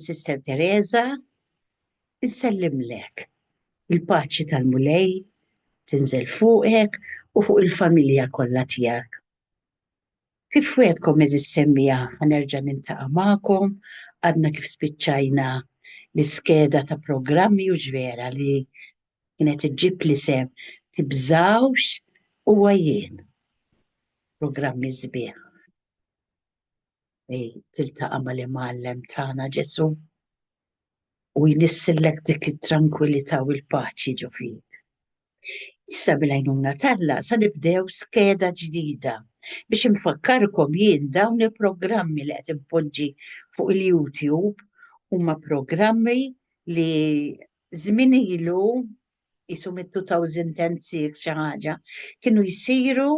Sister Teresa, insellimlek il-paċi tal-Mulej tinżel fuqek u fuq il-familja kollha tiegħek. Kif wegħdkom eżis semmija ħanerġa' niltaqa' magħkom, għadna kif spiċċajna l-iskeda ta' programmi u x'vera li kienet iġġib l-isem Tibżgħux Huwa Jien. Programmi sbieħ li tiltaqa' mal-Imgħallem tagħna Ġesù u jnissillek dik it-trankwillità u l-paċi ġo fik. Issa bil-għajnuna t'Alla sa nibdew skeda ġdida biex infakkarkom jien dawn il-programmi li qed inpoġġi fuq il-YouTube huma programmi li Żmien ilu, qisu mit-2006 xi ħaġa, kienu jsiru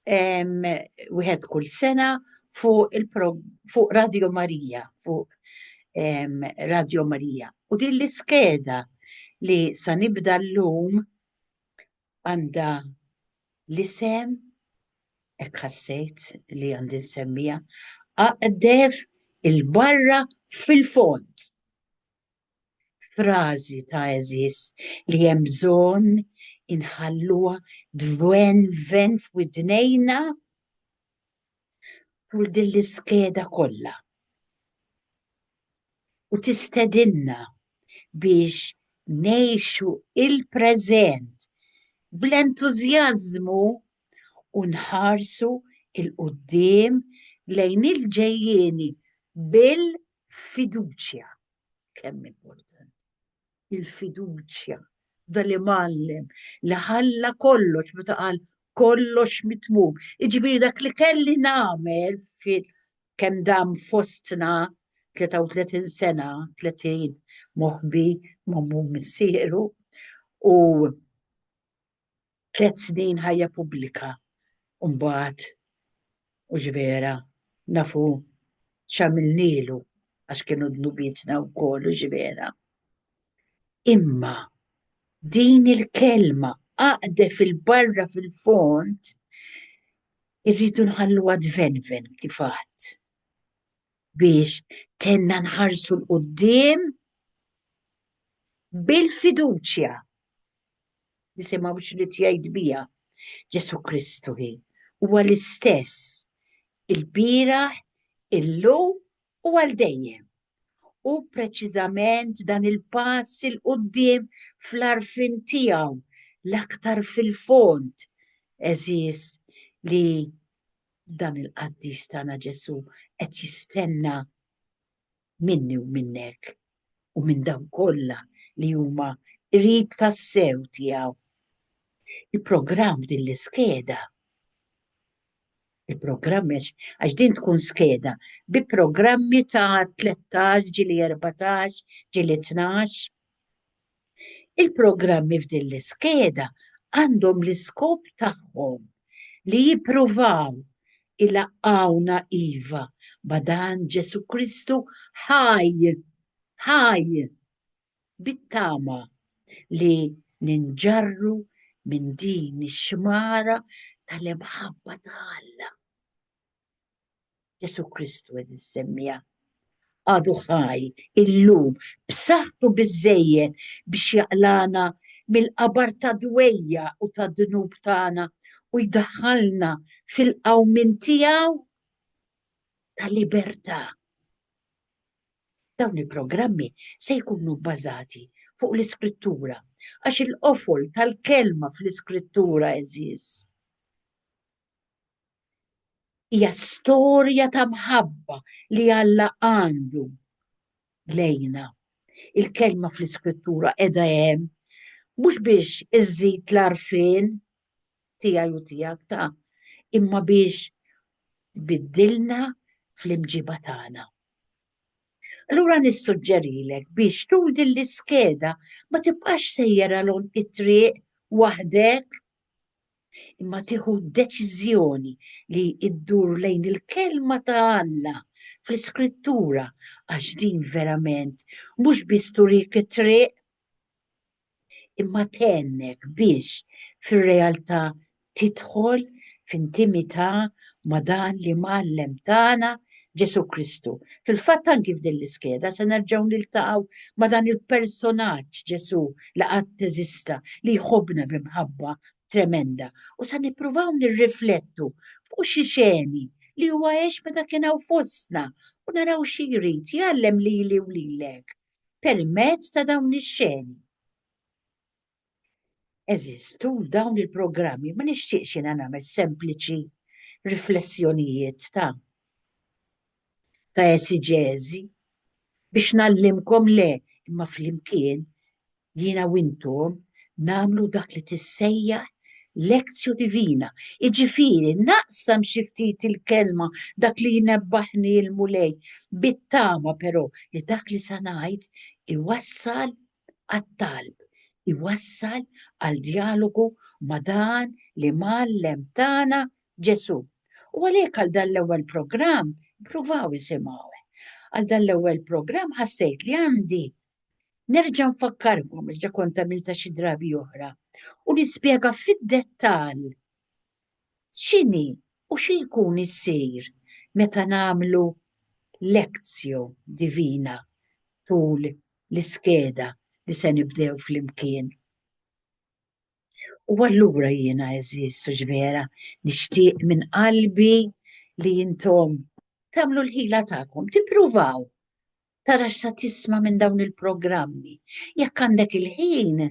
wieħed kull sena fuq Radio Marija, fuq Radio Marija. U din l-iskeda li sa nibda llum għandha l-isem, hekk ħassejt li għandi nsemmija, Aqdef il-barra fil-fond. Frażi ta' għeżież li hemm bżonn inħalluha tvenven f'widnejna tul din l-iskeda kollha u tistedinna biex ngħixu l-preżent bl-entużjażmu u nħarsu 'l quddiem lejn il-ġejjieni bil-, Fiduċja kemm importanti. Il-fiduċja dan li mallem li ħalla kollox meta qal kollox mitmum. Iġifieri dak li kelli nagħmel fil kemm dam fostna 33 sena, 30 moħbi mammu missieru u tliet snin ħajja pubblika u mbagħad mhux vera nafu x'għamilnielu għax kienu dnubietna wkoll u vera. Imma din il-kelma għaqde fil-barra fil-fond irridu nħalluha tvenven kif għadt biex tenna nħarsu l-qudiem bil-fiduċja Nisimgħu x'rid jgħid biha Ġesù Kristu hi. Huwa l-istess il-bieraħ, illum u għal dejjem. U preċiżament dan il-pass il qudiem fl-arfin tiegħu l-aktar fil-fond eżiż li dan il-qaddis tagħna Ġesù qed jistenna minni u minnek u minn dawk kollha li huma qrib tassew tiegħu. Il-programm f'din l-iskeda il-programm għax din tkun skeda bi programmi ta' 13 ġili 14 ġili 12 Il-programmi f'din l-iskeda għandhom l-iskop tagħhom li jippruvaw ilaqqgħuna iva ma' dan Ġesù Kristu ħaj, ħaj, bit-tama li ninġarru minn din ix-xmara tal-imħabba ta' Alla. Ġesu Kristu eżis semmija għadu ħaj illum b'saħħtu biżejjed biex jaqlana mill-qabar ta' dwejja u ta' dnub tagħna u jdaħħalna fil-qawmin tiegħu ta' libertà. Dawn il-programmi se jkunu bbażati fuq l-iskrittura għax il-qofol tal-kelma fl-iskrittura eżis. Hija storja ta' mħabba li Alla għandu lejna. Il-kelma fl-Iskrittura qiegħda hemm mhux biex iżżid l-għarfien tiegħi u tiegħek ta' imma biex tbiddilna fl-imġiba tagħna. Allura nissuġġerilek biex tul din l-iskeda ma tibqax sejjer għal it-triq waħdek imma tieħu deċiżjoni li ddur lejn il-kelma ta' Alla fl-iskrittura għax din verament mhux biss turik it-triq imma tennek biex fir-realtà tidħol f'intimità ma' dan li mgħallem tagħna Ġesu Kristu. Fil-fatt anki f'din l-iskeda se nerġgħu niltaqgħu ma' dan il-personaġġ Ġesu li qatt teżista li jħobbna b'imħabba tremenda u sa nippruvaw nirriflettu fuq xi xeni li huwa għex meta kien hawn fostna u naraw xi jrid jgħallem lili u lilek permezz ta' dawn ix-xeni. Għeżież, tul dawn il-programmi ma nixtieqx jiena nagħmel sempliċi riflessjonijiet ta' ta' esiġeżi biex ngħallimkom le, imma flimkien, jiena u intom, nagħmlu dak li tissejjaħ lectio divina, jiġifieri naqsam xi ftit il-Kelma, dak li jnebbaħni l-Mulej, bit-tama però li dak li se ngħid iwassal għat-talb, iwassal għal djalogu ma' dan l-Imgħallem tagħna Ġesù. U għalhekk għal dan l-ewwel programm pruvaw isimgħu. Għal dan l-ewwel programm ħassejt li għandi nerġa' nfakkarkom ġa kont għamilta xi drabi oħra u nispjega fid-dettall x'inhi u xi jkun issir meta nagħmlu lezzjo divina tul l-iskeda li se nibdew flimkien. U allura jiena eżiż suġvera nixtieq minn qalbi li intom tagħmlu l-ħila tagħkom, tippruvaw tara x'sa tisma' minn dawn il-programmi. Jekk għandek il-ħin,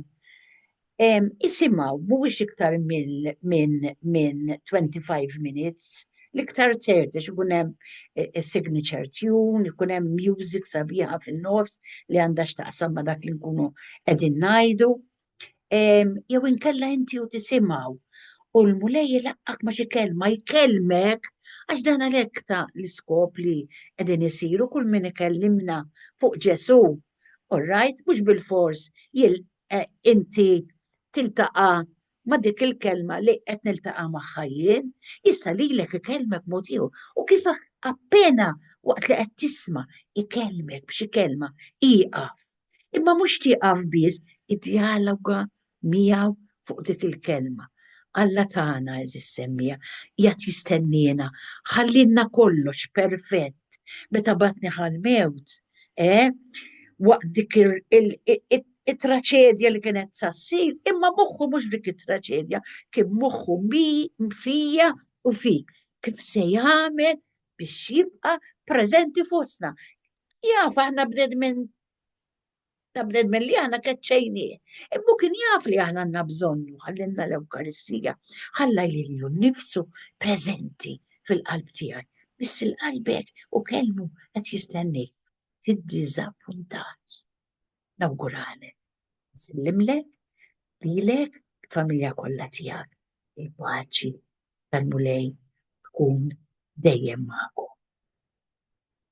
isimgħu mhuwiex iktar minn min, min 25 minutes, l-iktar ċerti x'ikun hemm e, e, signature tune, ikun hemm music sabiħa fin-nofs li għandha x'taqsam ma' dak li nkunu qegħdin ngħidu jew inkella inti u tisimgħu u l-mulej ilaqqak ma xi kelma jkellmek għax dan għalhekk ta' l-iskop li qegħdin isiru kull min ikellimna fuq Ġesù. Orrajt, mhux bil-fors jil eh, inti tiltaqa' ma' dik il-kelma li qed niltaqa' magħha jien, jista' lilek ikellmek mod ieħor. U kif appena waqt li qed tisma' ikellmek b'xi kelma ieqaf Imma mhux tieqaf biss id-djaloga miegħu fuq dik il-kelma. Alla tagħna, għeżież semmija, qiegħed jistenniena, ħallielna kollox perfett. Meta bagħatni ħal-mewt, eh, waqt dik it-traċedja li kienet sa ssir, imma moħħu mhux f'dik it-traċedja, kien moħħu fija u fik, kif se jagħmel biex jibqa' preżenti fostna. Jaf aħna bnedmin ta' bnedmin li aħna keċċejni. Imma kien jaf li aħna għandna bżonnu ħallinna l-Ewkaristija, ħalla jillu nifsu preżenti fil-qalb tiegħi. Biss il-qalbek u kelmu qed jistennik. Tiddiżappuntax. Nawguralek. Sillimlek, lilek, familja kollha tiegħek. Il-paċi tal-mulej tkun dejjem magħkom.